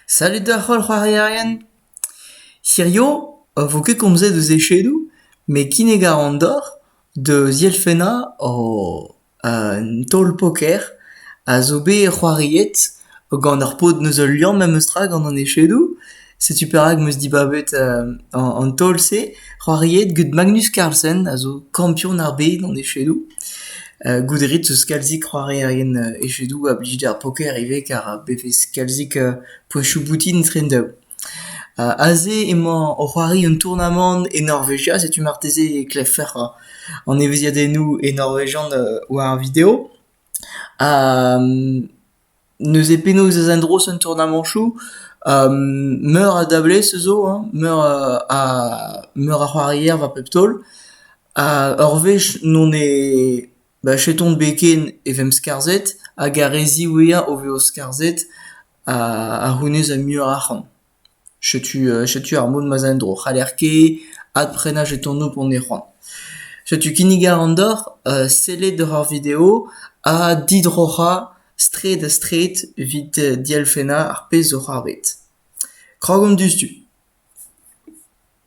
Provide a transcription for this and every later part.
Salut doc'h holl c'hoarierien. Hirio a vo ket komzet eus echedoù met kinnig a ran deoc'h da zielfennañ un taol poker a zo bet c'hoariet gant ar paotr neus ul liamm memestra gant an echedoù. Setu perak 'm eus dibabet an taol-se c'hoariet get Magnus Carlsen a zo kampion ar bed an echedoù. Goude ret 'z eus kalzik c'hoarierien echedoù a blij d'ar poker ivez kar bevez kalzik poesoù boutin etre an daou. Aze emañ o c'hoari un tournamant e Norvegia, setu marteze e klevfec'h an evezhiadennoù e norvegian war ar video. Neuze penaos ez endros en tournamañchoù? meur a dablez zo hein, meur a meur a c'hoarier war pep taol. Ha ur wech n'on e bah chetont bet ken e vemp skarzhet hag ar re ziwezhañ o vezo skarzhet a c'hounez ha muioc'h arc'hant. Setu setu ar mod ma'z a en-dro. C'haller ket adprenañ jetonoù p'on e c'hoant. Setu kinnig all an deoc'h, sellet doc'h ar video ha didroc'hañ straed-ha-straed evit dielfennañ ar pezh zo c'hoarvet. Krog omp diouzhtu.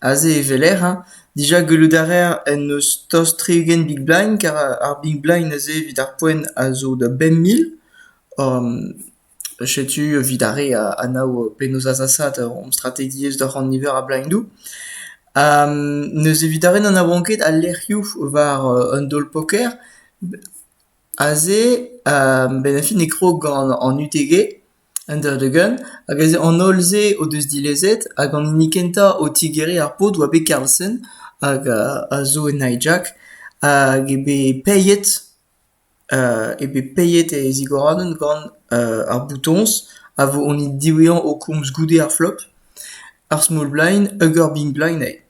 Aze e weler hein dija gellout a reer en deus tost tri-ugent big blind kar ar big blind aze evit ar poent a zo da bemp mil. Setu evit ar re a anav penaos azasaat hom strategiezh doc'h an niver a blindoù. N'eus evit ar re n'anavan ket al lec'hioù war un daol-poker. Aze, benn ar fin e krog gant an UTG. Un dra-dugent hag eus an holl-se o deus dilezet hag an hini kentañ o tigeriñ ar paotr oa bet Carlsen hag a zo en hijack hag eo bet paeet eo bet paeet e zigoradenn gant ar boutoñs a vo honnit diwezhañ o komz goude ar flop, ar small blind hag ar big blind eo.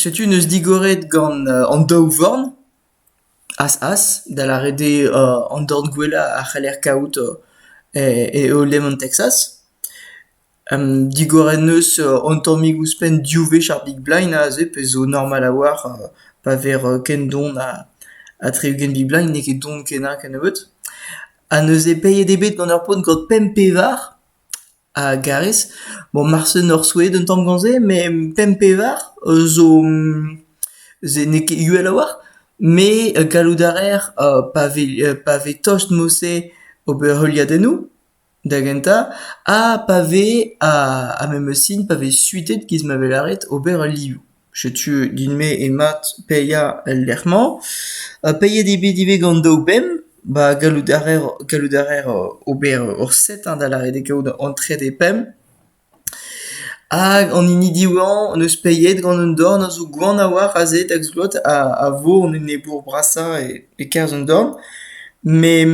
Setu neus digoret gant an daou vorn. As-as, da lâret eo an dorn gwellañ a c'heller kavout eo lemon Texas. Digor en deus an tammig ouzhpenn div wech ar Big Blind aze pezh zo normal a-walc'h pa vez ken don ha tri-ugent Big Blind, n'eo ket don kenañ kennebeut. Ha neuze peilhet eo bet gant ur paotr gant pemp pevar. A garez, bon marse n'oc'h souezhet un tamm gant se, met pemp-pevar zo... se n'eo ket uhel a-walc'h, met gallout a raer pa vez pa vez tost mod-se ober heuliadennoù da gentañ ha pa vez ar memes sin pa vez suitet giz ma vez lâret ober ul liv. Setu din-me emat paeañ el lec'h-mañ. Paeet eo bet ivez gant daou benn. Ba gallout a raer gallout a raer ober ur set hein da lâret eo kaout entre des pemp. Hag an hini diwezhañ neus paeet gant un dorn a zo gwan a-walc'h aze da glot a vo an enebour brasañ e-kerzh an dorn. Met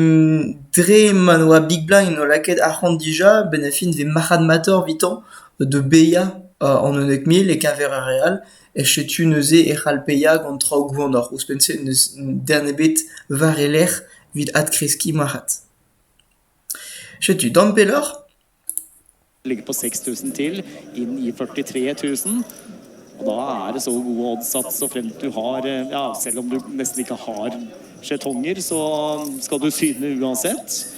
dre ma ne oa Big Blind o lakaet arc'hant dija, benn ar fin e vez marc'had-matoc'h evitañ. Da baeañ an unnek mil e-keñver ar re all e setu neuze e c'hall paeañ gant traoù gwanoc'h. Ouzhpenn-se n'eus den ebet war e lerc'h evit adkreskiñ marc'had. Setu tamm pelloc'h. Ligger på 6000 til inn i 43 000. Og da er det så gode oddsats, og frem til du har Ja, selv om du nesten ikke har skjetonger, så skal du syne uansett.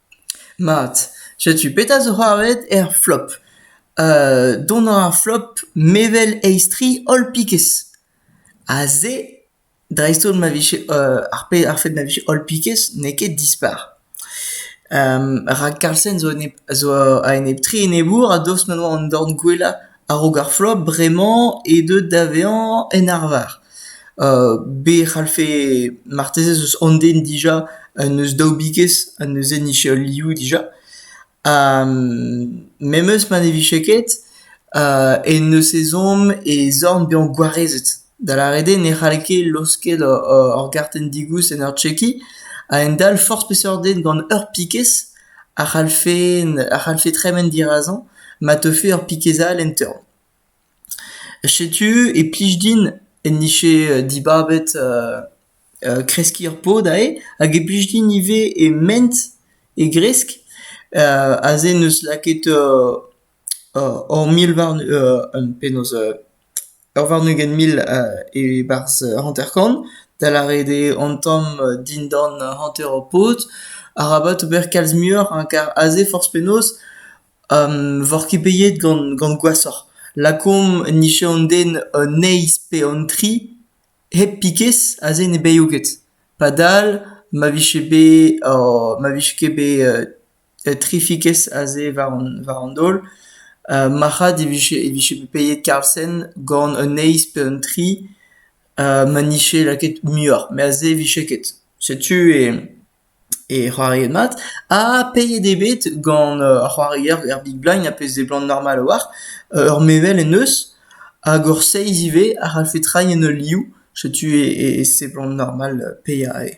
Mat, setu petra zo c'hoarvezet er flop. dont a ra ar flop mevel aes-tre holl pikez. Ha se, dreist-holl ma vije ar pe- ar fed ma vije holl pikez n'eo ket dispar. rak Carlsen zo a-enep- zo a-enep-tre enebour a-daoust ma oa an dorn gwellañ A-raok ar flob bremañ eo deuet da vezañ en arvar. Be e c'hallfe marteze eus an den dija en deus daou bigez en deus hennezh liv dija. Ha memes ma ne vije ket en deus ezhomm e zorn bezañ gwarezet. Da lâret eo ne c'halle ket laosket ur gartenn digoust en ur chekiñ. A-hend-all forzh peseurt den gant ur pikez a c'hallfe a c'hallfe tremen dirazañ ma teufe ur pikez all en torn. Setu e plij din en dije dibabet kreskiñ ur pod aze hag e plij din ivez e ment e gresk aze 'neus lakaet Hor mil warn- penaos ur warn-ugent mil e-barzh hanter-kant, da lâret eo an tamm dindan hanter ho paotr. Arabat ober kalz muioc'h hein, kar aze forzh penaos voc'h ket pediet gant gant gwashoc'h. Lakaomp nije an den un eizh pe an tri hep pikez aze ne beio ket. Padal ma vije bet ma vije ket bet trifikez aze war an war an daol. marc'had e vije e vije bet peiet Carlsen gant un eizh pe un tri ma nije lakaet muioc'h. Met aze e vije ket. Setu e e c'hoariet mat. Ha peiet eo bet gant ar c'hoarier er Big Blind a pezh seblant normal a-walc'h ur mevel en deus hag ur seizh ivez a c'hallfe treiñ en ul liv. Setu e seblant normal paeañ eo.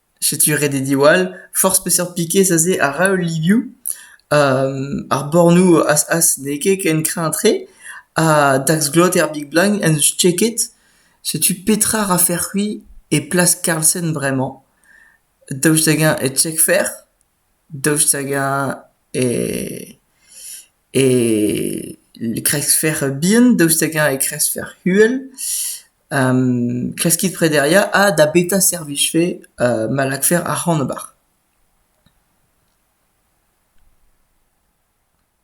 Setu ret eo diwall. Forzh peseurt pikez aze a ra ul livioù. Ar bornoù as-as n'eo ket ken kreñv-tre. Ha daxglot er Big Bang en deus cheket. Setu petra rafec'h-c'hwi e plas Carlsen bremañ. Daoust hag-eñ e checkfec'h? Daoust hag-eñ e kreizfer bihan, daoust hag-eñ e kreizfer uhel, klaskit prederiañ ha da beta servijfe ma lakfer arc'hant ober.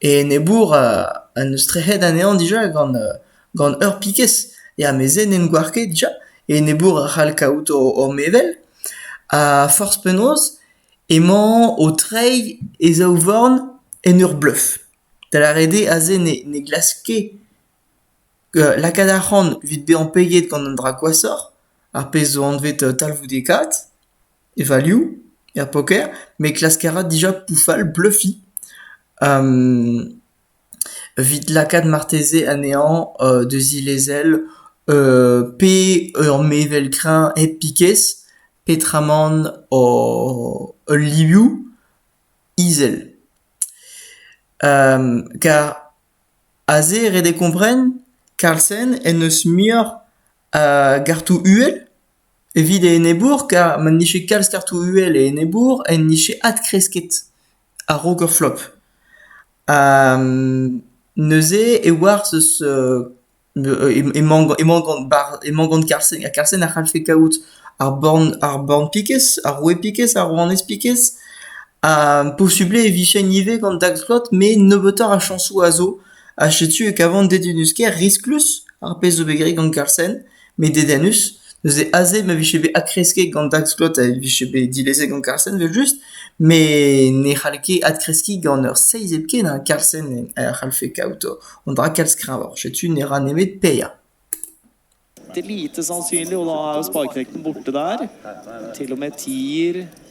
E enebour en deus trec'het anezhañ dija gant gant ur pikez. Ya, mez-se n'hen gouar ket dija. E enebour a c'hall kaout hor mevel. Ha forzh penaos emañ o treiñ e zaou-vorn en ur bleuf. Da lâret eo aze ne ne glask ket lakaat arc'hant evit bezañ peget gant an dra gwashoc'h, ar pezh zo anvet talvoudekaat. E valioù, er poker, me klask a ra dija poufal bleufiñ evit lakaat marteze anezhañ deus he lezel pe ur mevel kreñv hep pikez petramant ul livioù izel. Kar aze ret eo kompren Carlsen en deus muioc'h gartoù uhel. Evit e enebour, kar ma 'nije kalz kartoù uhel e enebour, en nije adkresket a-raok ur flop. Ha neuze e oarzh eus emañ emañ gant bar- emañ gant Carlsen, ha Carlsen a c'hallfe kaout ar born ar born pikez, ar roue pikez, ar rouanez pikez, ha posubl eo e vijen ivez gant Dagslot, met nebeutoc'h a chañsoù a zo, ha setu e kavan dedennus-kaer risklus ar pezh zo bet graet gant Carlsen. Met dedennus, neuze aze ma vije bet adkresket gant Dagscott ha e vije bet dilezet gant Carlsen evel-just, met ne c'hall ket adkreskiñ gant ur seizh hepken ha Carlsen a c'hallfe kaout an dra kalz kreñvoc'h. Setu ne ra nemet paeañ. Det er lite sannsynlig, og da er sparkrekten borte der. Til og med tier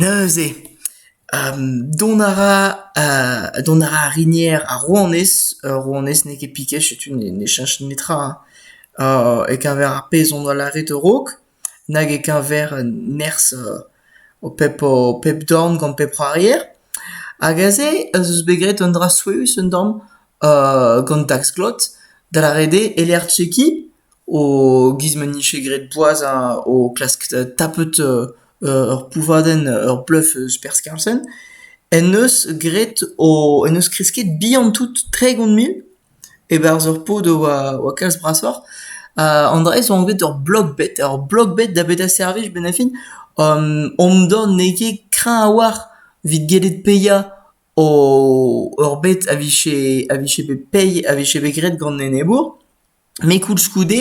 Neuze dont a ra dont a ra ar rinier ar rouanez, ur rouanez n'eo ket piket setu ne cheñch netra e-keñver ar pezh hon doa lâret a-raok nag e-keñver nerzh ho pep ho pep dorn gant pep c'hoarier hag aze ez eus bet graet un dra souezhus un tamm gant dax-glot da lâret eo e-lec'h chekiñ e-giz ma 'nije graet boaz o klask tapet ur pouvadenn, ur bluff eus perzh Carlsen, en deus graet o en deus kresket bihan-tout tregont mil e-barzh ur pod a oa kalz brasoc'h. An dra-se 'oa bet ur blog-bet, ur blog-bet da betañ servij benn ar fin. Omdon n'eo ket kreñv a-walc'h evit gellet paeañ ur bet a vije a vije bet paeet, a vije bet graet gant enebour. met koulskoude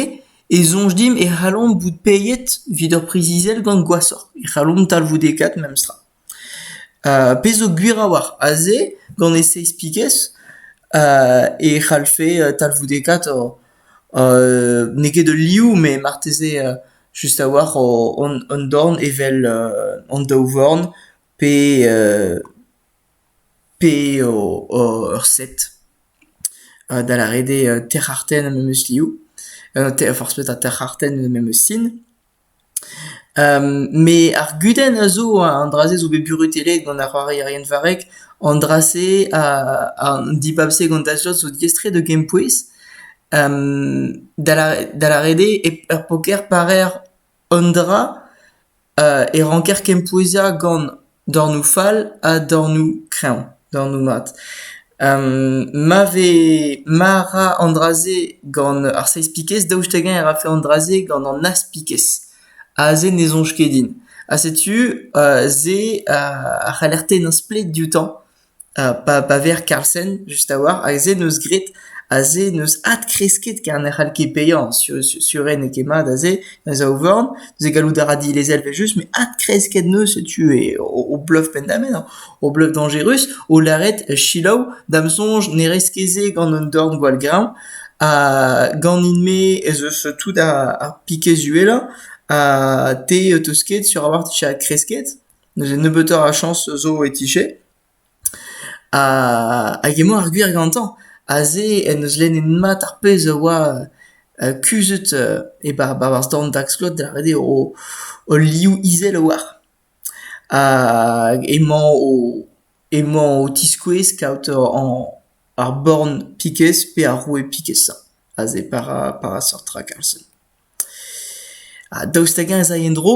e soñj dimp e c'hallomp bout peilhet evit ur priz izel gant gwashoc'h, e c'hallomp talvoudekaat memestra. pezh zo gwir a-walc'h aze gant e seizh pigez e c'hallfe talvoudekaat n'eo ket ul liv met marteze just a-walc'h hon dorn evel an daou vorn pe pe ur set, da lâret eo terc'hartenn ha memes liv, forzh petra terc'hartenn memes sin. Me ar gudenn a zo an dra-se zo bet burutellet gant ar c'hoarierien varrek, an dra-se, an dibab-se gant Dashlot zo diaes-tre da gempouez, da lâret eo ur poker parer Un dra e ranker kempouezañ gant dornoù fall ha dornoù kreñv, dornoù mat. ma vez ma ra an dra-se gant ar seiz-pikez daoust hag-eñ e rafe an dra-se gant an az-pikez? Aze ne soñj ket din. Ha setu se a c'haller tennañ splet dioutañ. Pa pa ver Carlsen just a-walc'h hag se 'neus graet ha se 'neus adkresket ker ne c'hall ket baeañ sur sur eo n'eo ket mat ha se da zaouvarn neuze gallout a ra dilezel evel-just met adkresket 'neus setu o bluff penn-da-benn o bluff dañjerus o lâret selaou da'm soñj ne rez ket se gant un dorn gwall-greñv ha ganin-me ez eus tout ar pikez uhelañ ha te 'teus ket sur a-walc'h 'tije adkresket. N'eus nebeutoc'h a chañs zo e tije. Hag emañ ar gwir gantañ. Aze en deus lennet mat ar pezh a oa kuzhet e-barzh dorn Dagscott da redek o liv izel a-walc'h. Hag emañ o tiskouez kaout ar born Piquez pe ar roue Piquez-sañ aze par a seurt raktal-sen. Ha daoust hag-eñ ez ay en-dro?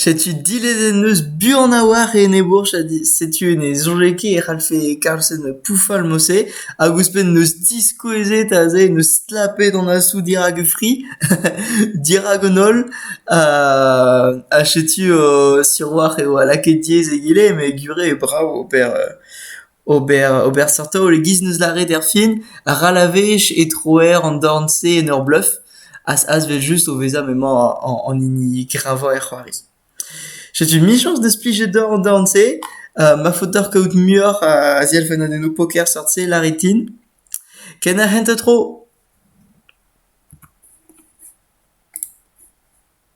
Setu dilezenn eus buan a-walc'h e enebourch ha setu ne soñjay ket e c'hallfe Carlsen pouffal Mosse hag ouzhpenn neus diskouezet aze neus stlapet an asoù dirak e fri dirak an holl ha setu siwazh eo lakaet diaes egile met gure brav ober Ober ober seurt taol e-giz n'eus lâret erfin, ral a wech e troer an dorn-se en ur bluff, azvezh-just o vezañ m'emañ an hini gravañ er c'hoari. Setu michañs deus plijet deoc'h an dorn-se, ma faot deoc'h kaout muioc'h a zielfennadennoù poker seurt-se, lârit din. Ken a hent tro!